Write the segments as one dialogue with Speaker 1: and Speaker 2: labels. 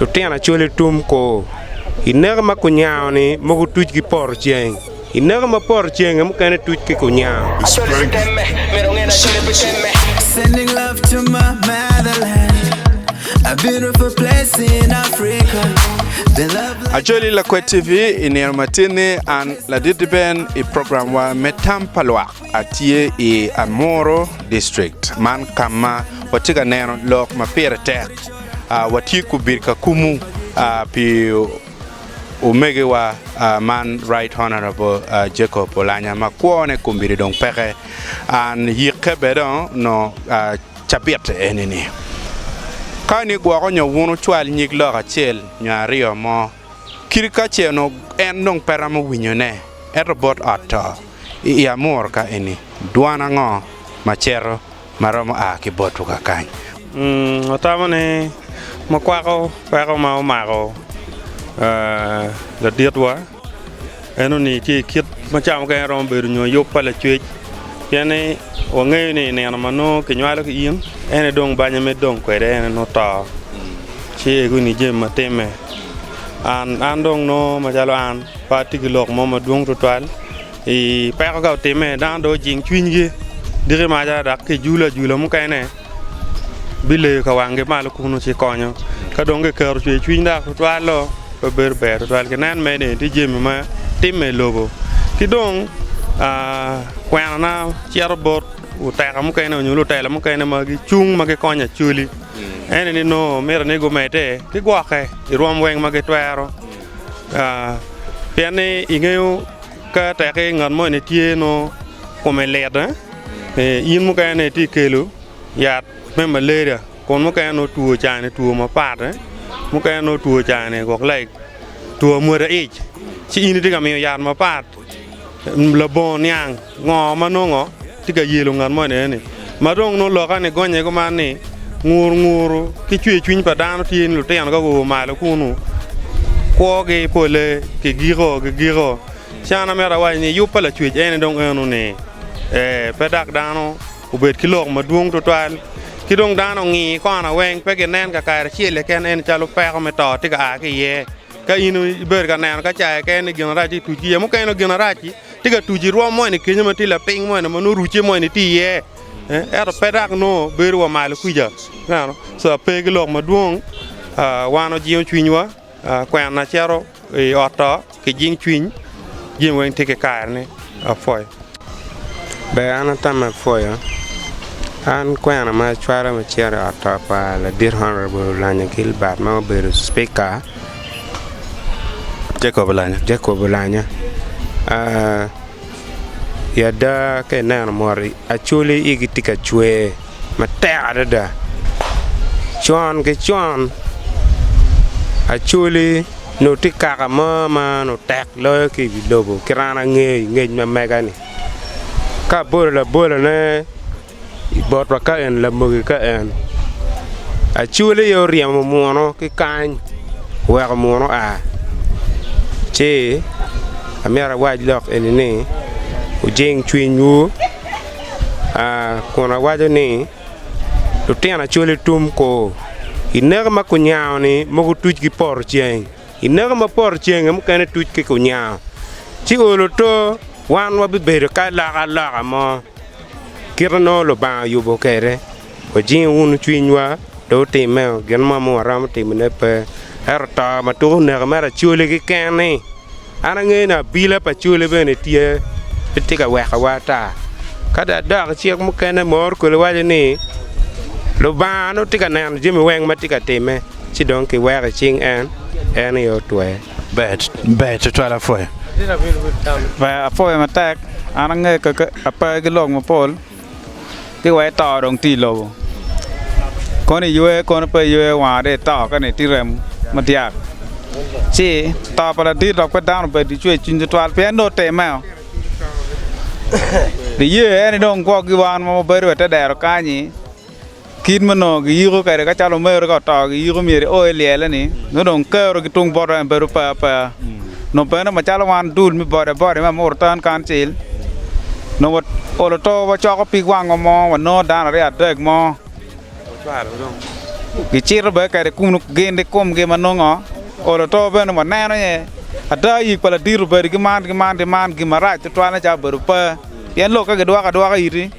Speaker 1: Lutino Acholi Tum kor i neko ma kunyango ni mogo tuc ki poto ceng. I neko ma poto cenge mukene tuc ki kunyango.
Speaker 2: Acholi Lakwet TV, I nino matini an Ladit Iben i program wa me Tam pa Lwak. Atye i Anmoro district man kama watye ka neno lok ma pire tek. Watye kubir ka kumu pi omegiwa man Right Honourable Jacob Olanya ma kwone kombeddi dong peke. An yikke bene dong nongo cabit enini. Kani gwoko nyo wun wucwal nyig lok acel nyo aryo mo. Kit ka ce onongo en dong pe romo winyone, ento bot ot to, i amur ka eni, dwan ango ma cito ma romo a ki botwu kakany? Watamo
Speaker 3: ni makwako peko ma omako laditwa. Eno ni tye kit ma cawa mukene romo bedo nyo yub pa lacwec, pien ni wangeyo ni i nino ma nongo kinywalo ki in, en aye dong banya me dong kwede en aye nongo to, ci egu ni jami ma timme. An, an dong nongo macalo an pe atye ki lok mo madwong twatwal i peko ka otimme, dano dong ojing cwinygi diki maca dok kijule ajula mukene. bileyo ka wanggi malo kunnu ci konyo. Ka dong kiketo cwercwiny dok tutwal-lo, pe bedo ber tutwal. Ginen mere ni tye jami ma timme i lobo. Ki dong kwenona cito bot luteka mukene nyo lutela mukene ma gicung ma gikonyo actually en aye ni nongo miti ni gumedde ki gwokke i rwom weng ma gitwero pienni ingeyo Ka tekki ngat moni tye nongo kome lit, yin mukene itye kelo yat me malaria kun mukene nongo two cani two mapat, mukene nongo two cani wok like two amwodo ic ci in itye ka miyo yat mapat labongo niang ngo ma nongo Tye ka yelo ngat mo enene-ni. Ma dong nongo loka ni gonye kuman ni, ngur nguru ki cwer cwiny pa dano tye ni lutino ka guo malo kunu, kwogi pole kigiko gigiko. Ci an amito awaci ni yub pa Lacwec ene dong eno ni, ee, pe dak dano obed ki lok madwong twatwal, ki dong dano ongi kona weng pe ginen kakare acel keken ene calo peko me to tye ka a ki iye. Ka in ibedo ka neno ka caye keken ni gin arac-ci otuc ki iye, mukene nongo gin arac-ci tye ka tuc i rwom mo eni kenyo ma tye lapiny mo eni ma nongo orucce mo eni tye iye, ento pe dok nongo bedo wa malo kwija, ineno. Ca ma pe ki lok madwong aa wan wajingo cwinywa aa kwena cito i ot to kijing cwiny, jami weng tye ki karene. Apwoyo.
Speaker 1: Ber an atama apwoya, an kwena ma acwalo me cito i ot to pa ladit honorable Olango Gilbert ma obedo cipika Jacob Olango aa i ada ka ineno moti acwali igi tye ka cwer. matek adada. Con ki con Acholi onongo tye i kaka mo ma onongo tek loyo ki i wi lobo kit an angeyo i ngec ma mega-ni. Ka abolo labolone i botwa ka eni Lamogi ka en, Acholi aye oryemo munu ki kany oweko munu oa ci amyero awac lok eni ni wujing cwinywu. kun awaco ni, Lutino acwali tum ko, i naka ma kunyango-ni mogo tuc ki poto ceng, i naka ma poto ceng-ngi mukene tuc ki kunyango, ci olo oto, wan wabibedo ki alokaloka mo, kit ma nongo Lubanga oyubo kwede. Wajingi wunu cwinywa, pe wutimme o, gin mo ma waromo timone pe, ento to ma tuko neko mere acwali keken-ni. An angeyo ni abila pa acwali bene tye, pe tye ka wekowa ata. Ka dong adok cik mukene ma Orkoli waco ni, Lubanga nongo tye ka neno jami weng ma tye ka timme, ci dong kiweko i cing en, en aye otwer. Ber
Speaker 2: tutwal apwoyo.
Speaker 4: Ber apwoyo matek, an angeyo kaki apa ki lok mapol. ci wai to dong tye ilobo kono iywe kono pe iywe wanga dong ito kani tye rem madyak ci to pa ladit dok pe dano bene pe cwer cwiny tutwal pien nongo oteme o niye en ni dong gwok gi wan ma wabedo wa i te dero kany-nyi Kit ma onongo giyiko kwede ka calo omerre ka oto giyiko myero eo elyele ni nongo dong kero ki tung bot en bedo pe apeya. Nongo bene macalo wan dul me bodabode me Amuru Town Council nongo waolo to wacoko pig wango mo wanongo dano aryo adek mo gicito bene kwede kunu gin ikumgi ma nongo olo to bene waneno aye ada yik pa ladit obedo ki man ki man ki man gin marac tutwal nen calo obedo pe. Pien lok ka gidwoko adwoka iti,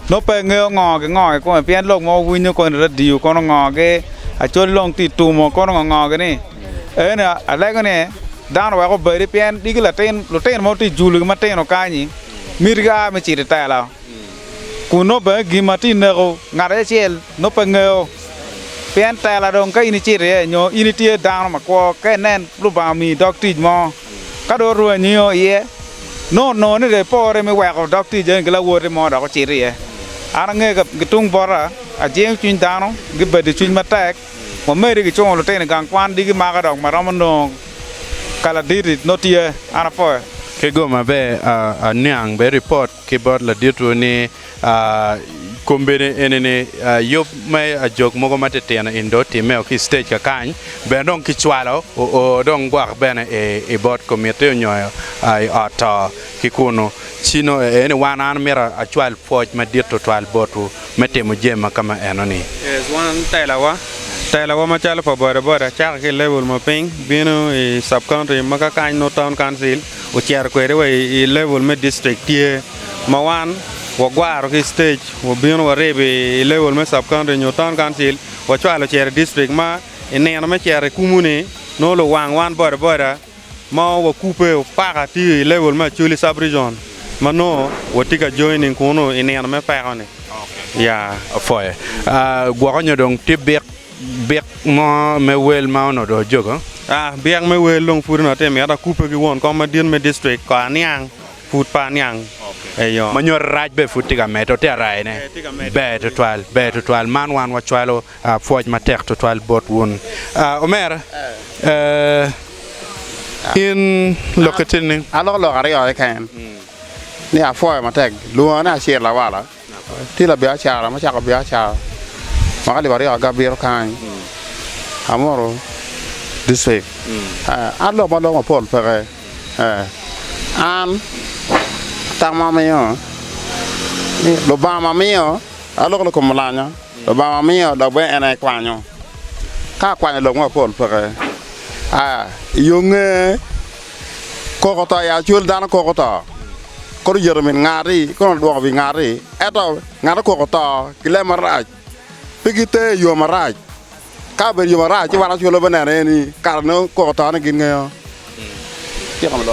Speaker 4: nongo pe ingeyo ngo gingo kikome, pien lok mogo winyo koni i radio kono ngogi, acwali dong tye itumo kono ngo ngogi ni. Eni alego ni dano wek obedi pien diki latin lutino mogo tye ijulu gi matino kanyi miti gia me cito itela kun nongo bene gin ma tye ineko ngat acel nongo pe ingeyo pien tela dong ka in icito iye nyo in itye dano makwo ka inen Lubanga omiyi dog tic mo. Ka dong oruu anyio iye, nongo onongo ni dong epore me weko dog tic eni ki lawote mo dok ocito iye. An angeyo ka gitung bota, ajingo cwiny dano, gibedo cwiny matek. Wamedi gicungo lutino i gang kwan digi maka dok maromo nongo ka laditi nongo tye, an apoyo. Kigoma be
Speaker 2: aniang bene ripot ki bot laditwu ni, Kombeddi eni ni, yub me ajok mogo ma titino in dong otimmeo ki i stage kakany, bene dong ki cwalo oo dong gwok bene i bot komitti onyo i ot to ki kunu. Ci nongo ee ni wan an mito acwal pwoc madit twatwal botwu me timo jami ma kama eno ni. Yes, wan
Speaker 3: telawa, telawa macalo pa boda boda cako ki i level ma piny bino i sub-county ma kakany nongo town council. ocito kwede wa i level me district tye ma wan wagwaro ki i stage wabino waribo i level me sub county nyo town council wacwalo ocito i district ma i nino me cito i kumu ni nongo luwang wan boda boda ma wakubbe o paka tye i level me acholi sub region ma nongo watye ka joining kunu i nino me peko ni ya. Apoye.
Speaker 2: Gwoko nyo dong tye bik Byek mo me wel ma onodo ajoga. A. Byek me wel
Speaker 3: dong pud onot te mito akubbe ki won kom madit me district ko aniang pud pe aniang eyo. Ma nyoto
Speaker 2: rac be pud tye ka medde ote araye ne. Ber tutwal, ber tutwal man wan wa cwalo pwoc matek tutwal bot wun. A. Omera ee in lokke tye nining? Aloko lok aryo
Speaker 5: keken ni apwoyo matek. Lwonga ni Acir Lawala. Tye labiacara ma cako biacara ma ka libaryek aga bito kany amuru district an lok ma lok mapol peke an tam ma amiyo ni lubanga miyo aloko ni kom olanya lubanga miyo dok bene en aye kwanyo ka akwanyo lok mapol peke aa iyo nge. Koko to aye acwel dano koko to, kono yito min ngati kono odwoko wi ngati. Ento ngat ma koko to ki leb marac pe giter i yo marac, ka obedo i yo marac ci wan acwel wabe neno iye ni kara nongo koko to ni gingeyo.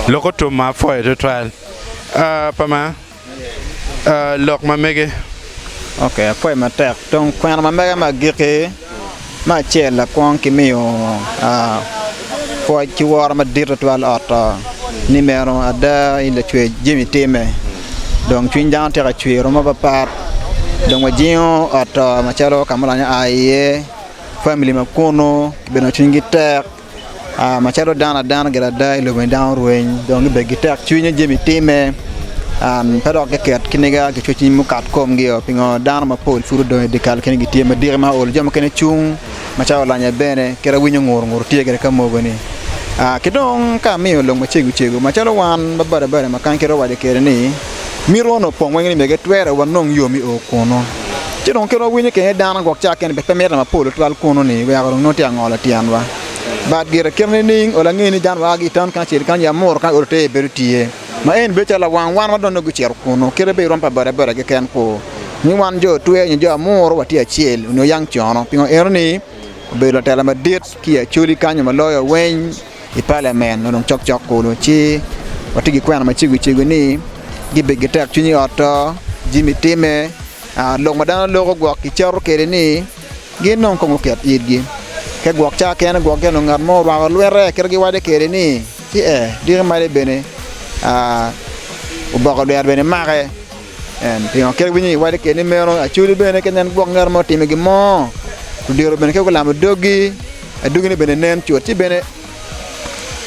Speaker 2: Lok otum ma apwoyo tutwal pa ma lok ma mege. Ok, akwayi
Speaker 6: matek. Tong kwena ma mega ma agikki, me acel lakwong ki miyo ah, pwoc ki woro madit tutwal ot oh, ni meno ada in lacwec jami itime. Dong cwiny dano tyeka cwer romo papat, dong wajingo ot oh macalo ka ma olonyo aa iye, family ma kunu, kibedo ma cwinygi tek. macalo dano adana gire ada i lobo ni dano orweny dong gibed ki tekcwiny nyo jami timme pe dok giket ki niga ki cwercwiny mukat komgi o pingo dano mapol pud odong i dyekal kene gitye madiki ma ol jo mukene cung macalo olanya bene kit awinyo ngur ngur tye kede ka mogo ni ki dong ka amiyo lok macego cego macalo wan ma badabada ma kany kere owaco kede ni mito wano opong weng ni mege twere wanong yo mi o kunu. Ci dong kit wawinyo kene dano gwok ca kene pe mito mapol twal kunu ni weko dong nongo tye ka ngolo tyenwa. But gire kit nining o lange ni dano waa ki town kany acel kany ya muro kany olo teye bedo tye. Ma eni bedo calo lawang wan ma dong nongo gucito kunu kite pe irom pa boda boda keken kwo ni wan jo twer nyo jo amuro watye acel onyo yang cono pingo eno ni obedo latela madit ki i Acholi kany ma loyo weny. i palament ma dong cokcok kulu ci watye ki kwena ma cego cego ni gibedo ki tekcwiny i ot-to jami timme lok ma dano loko gwok kicato kwede ni gin dong kong guket itgi te gwok ca kene gwok gire ngat mo orwako lwette kit ma giwaco kwede ni ci ee diki malo bene oboko dwero bene make. En pingo kit winyo i wadi keni meno? Acudi bene ka nen gwok ngat mo otimo gin mo, odiro bene ka gulamo dogi, adogine bene nen cut. Ci bene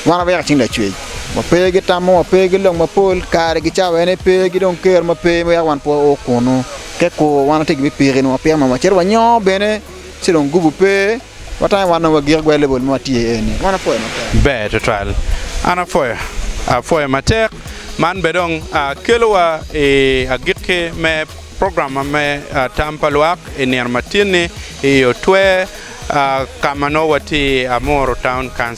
Speaker 6: wan wayaka cing lacwec, wa pe gitamo, wa pe gilok mapol, kare gicawa ene pe, gi dong ker ma pe, wek wan pe wao kunu. Te kur wan watye gin me piki nwa, pien wan wacito wanyoo bene, ci dong gubu pe. Watang i wan onongo wagik gwe lebol ma watye iye eni. Man apwoyo matek. Ber tutwal.
Speaker 2: An apwoyo. Apwoyo matek. Man be dong kelowa i agikki me program ma me Tam pa Lwak i nino ma tin-ni i otwer ka ma nongo watye i Amuru Town Council.